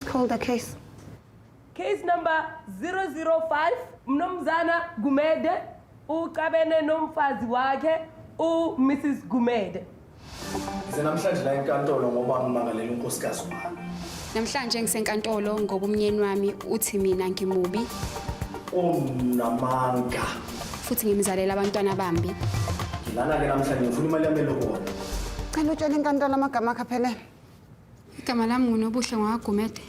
Call the case. Case number 005 Mnumzana Gumede ucabene nomfazi wakhe u Mrs Gumede. Ngize namhlanje la enkantolo ngoba ngimangalela unkosikazi wami. Namhlanje ngisenkantolo ngoba umnyeni wami uthi mina ngimubi Unamanga. futhi ngimzalela abantwana bambi. Ngilana ke namhlanje ngifuna imali yami elokona. Cela utshele inkantolo amagama akhe aphelele. igama lami ngunobuhle ngwakagumede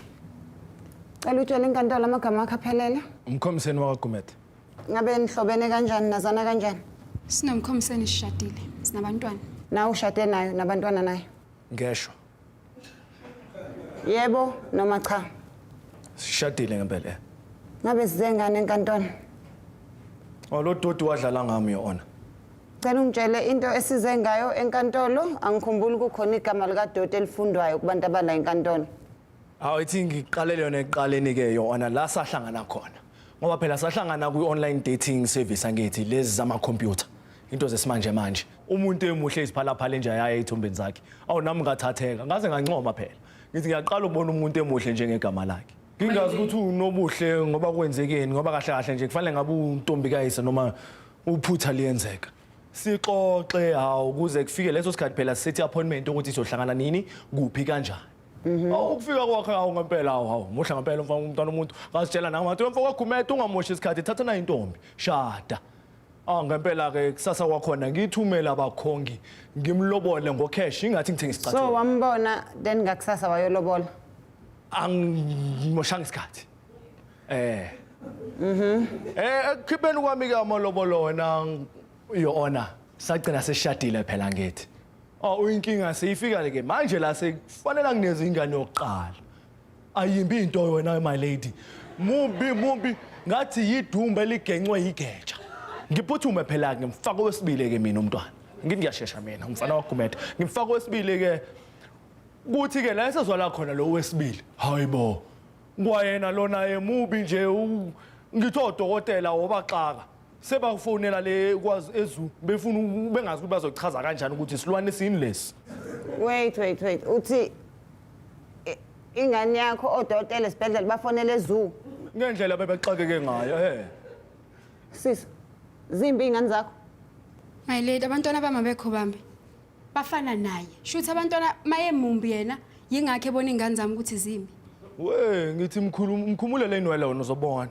cela utshele inkantolo amagama akho aphelele umkhomiseni wakagumede ngabe nihlobene kanjani nazana kanjani sinomkhomiseni sishadile sinabantwana nawe ushade nayo nabantwana nayo ngeshwa yebo noma cha sishadile ngempela eh. ngabe sizengane enkantolo olododi wadlala ngami yona Cela ungitshele into esize ngayo enkantolo angikhumbuli kukhona igama likadoti elifundwayo kubantu abala enkantolo. Hawu ithi ngiqalele yona eqaleni ke yona la sahlangana khona. Ngoba phela sahlangana kwi online dating service angithi lezi zama computer. Into zesimanje manje. Umuntu emuhle iziphala phale nje ayaye ithombeni zakhe. Awu nami ngathatheka ngaze ngancoma phela. Ngithi ngiyaqala ukubona umuntu emuhle njengegama lakhe. Ngingazi ukuthi unobuhle ngoba kwenzekeni ngoba kahle kahle nje kufanele ngabe untombikayise noma Uphutha liyenzeka. Sixoxe hawu kuze kufike leso sikhathi phela sithi appointment ukuthi sizohlangana nini kuphi kanjani. Mhm. Awu ukufika kwakhe hawu ngempela hawu hawu muhle ngempela umfana umntwana umuntu ngasitshela nami ngathi mfana kwagumeda ungamoshi isikhathi thatha nayo intombi shada. Ah ngempela ke kusasa kwakhona ngithumela abakhongi ngimlobole ngocash ingathi ngithenga So isicathulo. wambona then ngakusasa wayolobola. Angimoshanga isikhathi. Eh. Mhm. Eh ekukhipheni kwami ke amalobolo wena your honor. Sagcina seshadile phela ngithi. Oh uyinkinga seyifika ke manje la sekufanele ngineze ingane yokuqala. Ayimbi into wena my lady. Mubi mubi ngathi yidumbe ligencwe yigeja. Ngiphuthume phela ke ngimfaka owesibili ke mina umntwana. Ngithi ngiyashesha mina umfana wagumetha. Ngimfaka owesibili ke kuthi ke la esezwala khona lo wesibili. Hayibo. Kwayena lona emubi nje u- ngithi odokotela wobaxaka sebakufonela le kwazi ezu befuna u- bengazi ukuthi bazochaza kanjani ukuthi isilwane sini lesi. Wait, wait, wait. Uthi i- ingane yakho odokotela esibhedlela bafonele ezoo. Ngendlela bebexakeke ngayo he. Sis, zimbi ingane zakho. My lady, abantwana bami abekho bambi. bafana naye shuthi abantwana mayemumbi yena yingakho ebona ingane zami ukuthi zimbi we ngithi mkhulu mkhumule leni wala wona uzobona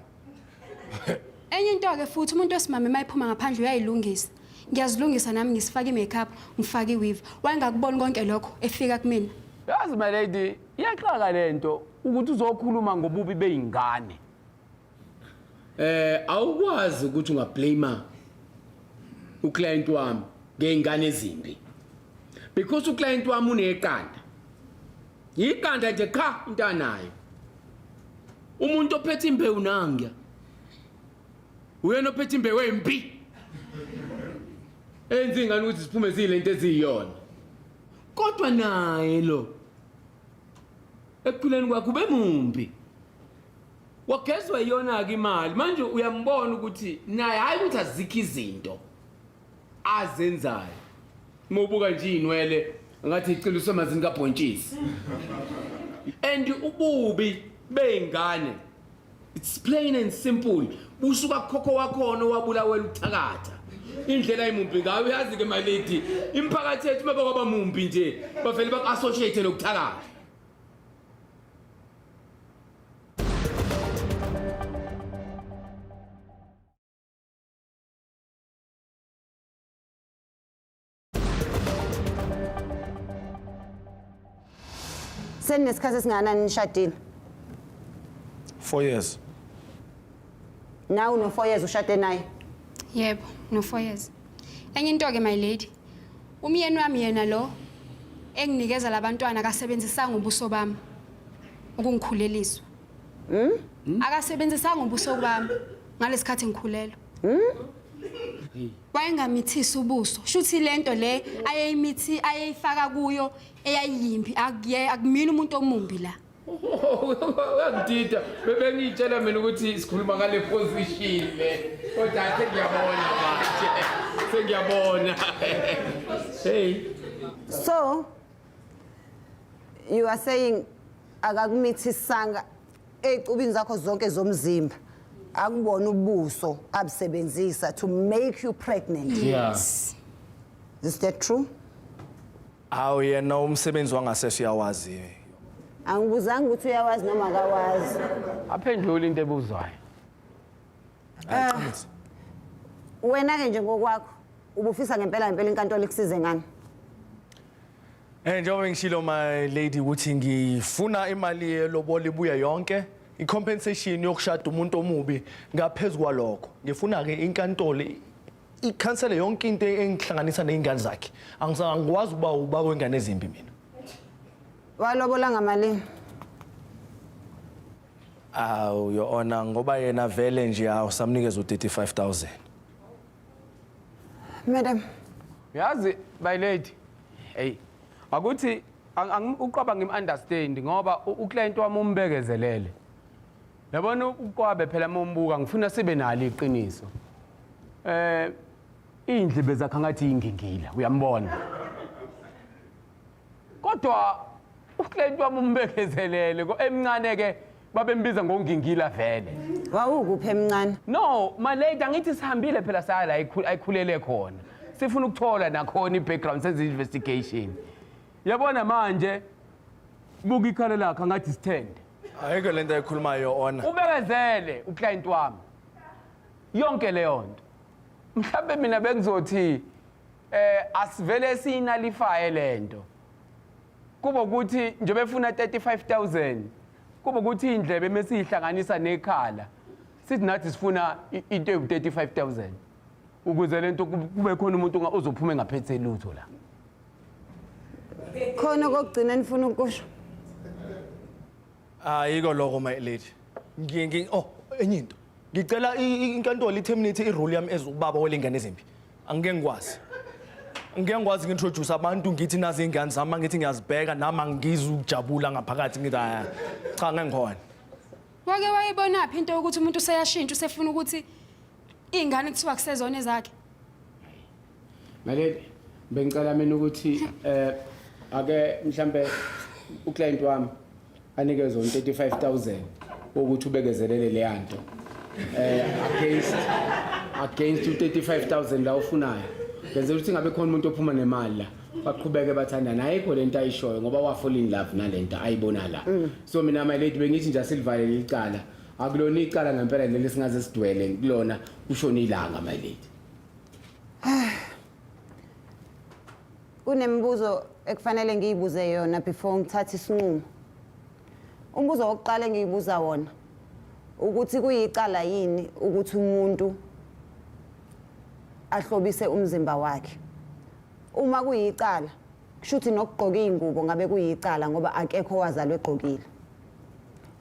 enye into ke futhi umuntu osimame mayiphuma ngaphandle uyayilungisa ngiyazilungisa nami ngisifaka i-makeup ngifake i-weave wayengakuboni konke lokho efika kumina yazi my lady iyaxaka le nto ukuthi uzokhuluma ngobubi bey'ngane eh awukwazi ukuthi ungablame uclient wami ngeingane ezimbi because uclient wami uneqanda yiqanda nje qha into anayo umuntu ophethe imbewu nangya uyena ophethe imbewu embi enzi ngani ukuthi siphume silento eziyiyona kodwa naye lo ekuphileni kwakhe ubemumbi wagezwa iyona-ke imali manje uyambona ukuthi naye hhayi ukuthi azikho izinto azenzayo uma ubuka nje iy'nwele ngathi icila usemazini kabhontshisi and ububi bey'ngane it's plain and simple busuka kukhokho wakhona owabulawela ukuthakatha indlela imumbi ngayo uyazi-ke malidi imiphakathi yethu uma bakwaba mumbi nje bavele baku-associate nokuthakatha Seninesikhathi esingakanani nishadile? Four years. Nawe no four years ushade naye? Yebo, no four years. Enye into ke my lady. Umyeni wami yena lo enginikeza labantwana kasebenzisanga ubuso bami. ukungikhuleliswa hmm? hmm? akasebenzisanga ubuso bami ngalesikhathi ngikhulelwa hmm? wayengamithisi ubuso shuthi lento le ayeyimithi ayeyifaka kuyo eyayiyimbi akuye akumina umuntu omumbi la uyangidida bebengiyitshela mina ukuthi sikhuluma ngale position le kodwa athe ngiyabona manje sengiyabona hey so you are saying akakumithisanga ey'cubini zakho zonke zomzimba akubona ubuso abusebenzisa to make you pregnant Yeah. is that true Hawu yena umsebenzi wangasese uyawazi. angibuzanga ukuthi uyawazi noma akawazi aphendule into ebuzwayo Ayiqinise. wena-ke nje ngokwakho ubufisa ngempela ngempela inkantolo ikusize ngani Eh njengoba ngishilo my lady ukuthi ngifuna imali yelobola ibuye yonke icompensation yokushada umuntu omubi ngaphezulu kwalokho ngifuna ke inkantolo ikhansele yonke into engihlanganisa nezingane zakhe angisangikwazi uba uba kwengane ezimbi mina walobola ngamalini awu your honor ngoba yena vele nje awusamnikeza u35000 Madam. Yazi my lady. Hey. Akuthi uqwaba ngim understand ngoba uclient wami umbekezelele. Yabona uqwabe phela uma umbuka ngifuna sibe nalo iqiniso. Eh indle bezakha ngathi ingingila uyambona. kodwa uclaint wami umbekezelele ko emncane ke babembiza ngongingila vele wawukuphi emncane no my lady angithi sihambile phela saya la ayikhul- ayikhulele khona sifuna ukuthola nakhona i-background senze investigation yabona manje buka ikhalo lakhe angathi sithende ayikho lento ayikhulumayo yo-ona ubekezele uclient wami yonke leyo nto mhlawumbe mina bengizothi eh asivele siyinalifaye lento kuba ukuthi nje befuna 35000 kuba ukuthi indlebe mesihlanganisa nekhala sithi nathi sifuna i- into ewu 35000 ukuze lento kub- kube khona umuntu onga- ozophuma engaphethe lutho la khona kokugcina nifuna ukusho ayiko ah, lokho my lady ngi ngi oh enye into ngicela inkantolo iterminate irole yami as ubaba welingane ezimbi angike ngikwazi ngike ngikwazi ngintroduce abantu ngithi nazi ingane zami ngithi ngiyazibheka nami angizi ukujabula ngaphakathi ngithi haya cha ngengikhona wake wayibonaphi into yokuthi umuntu useyashintsha usefuna ukuthi Iy'ngane kuthiwa kusezona ezakhe. Maleli bengicela mina ukuthi eh ake mhlambe uclient wami anikezwe 35000 ukuthi ubekezelele le yanto. Eh against against 35000 la ufunayo. Benze ukuthi ngabe khona umuntu ophuma nemali la. baqhubeke bathandana ayikho lento ayishoyo ngoba wafall in love nalento ayibona la so mina my lady bengithi nje asilivale licala akulona icala ngempela leli singaze sidwele kulona kushona ilanga my lady kunemibuzo ekufanele ngiyibuze yona before ngithathe isinqumo umbuzo wokuqala engiyibuza wona ukuthi kuyicala yini ukuthi umuntu ahlobise umzimba wakhe uma kuyicala kushuthi nokugqoka izingubo ngabe kuyicala ngoba akekho wazalwe egqokile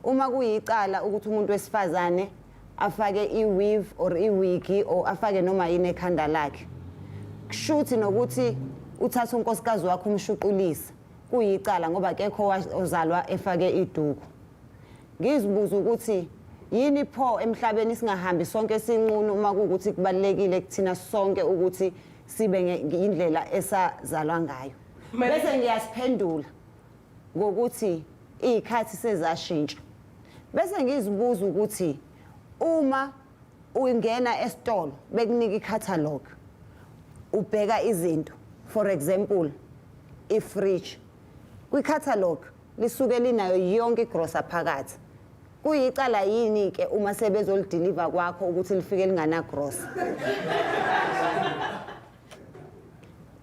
uma kuyicala ukuthi umuntu wesifazane afake i-weave or iwigi or afake noma yini ekhanda lakhe kushuthi nokuthi uthatha unkosikazi wakho umshuqulisa kuyicala ngoba kekho ozalwa efake iduku ngizibuza ukuthi yini pho emhlabeni singahambi sonke sinqunu uma kuwukuthi kubalulekile kuthina sonke ukuthi sibe indlela esazalwa ngayo bese ngiyasiphendula ngokuthi iy'khathi sezashintsha bese ngizibuza ukuthi uma ungena esitolo bekunika i-catalog ubheka izinto for example i-fridge kwi-catalog lisuke linayo yonke igrosa phakathi kuyicala yini-ke uma sebezolidiliva kwakho ukuthi lifike linganagrosa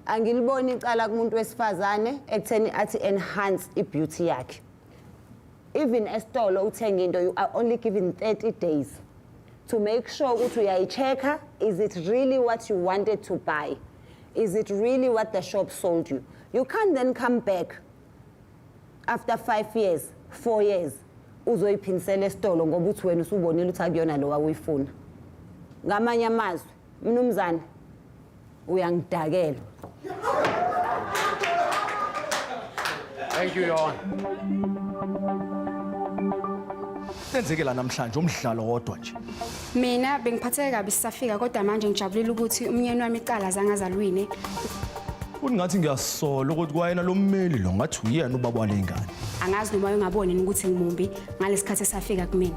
angiliboni icala kumuntu wesifazane ekutheni athi enhance i-beauty yakhe even esitolo uthenga into you are only given 30 days to make sure ukuthi uyayi-check-a is it really what you wanted to buy is it really what the shop sold you you can't then come back after five years four years uzoyiphindisela esitolo ngoba uthi wena usubonile ukuthi akuyona lo wawuyifuna ngamanye amazwi Mnumzane uyangidakela. Thank you your honor. Senzeke la namhlanje umdlalo wodwa nje. Mina bengiphatheke kabi sisafika kodwa manje ngijabulile ukuthi umnyeni wami icala zangazalwini. Futhi ngathi ngiyasola ukuthi kwayena lo mmeli lo ngathi uyena ubaba wale ngane. Angazi noma ungaboni ukuthi ngimumbi ngalesikhathi esafika kumina.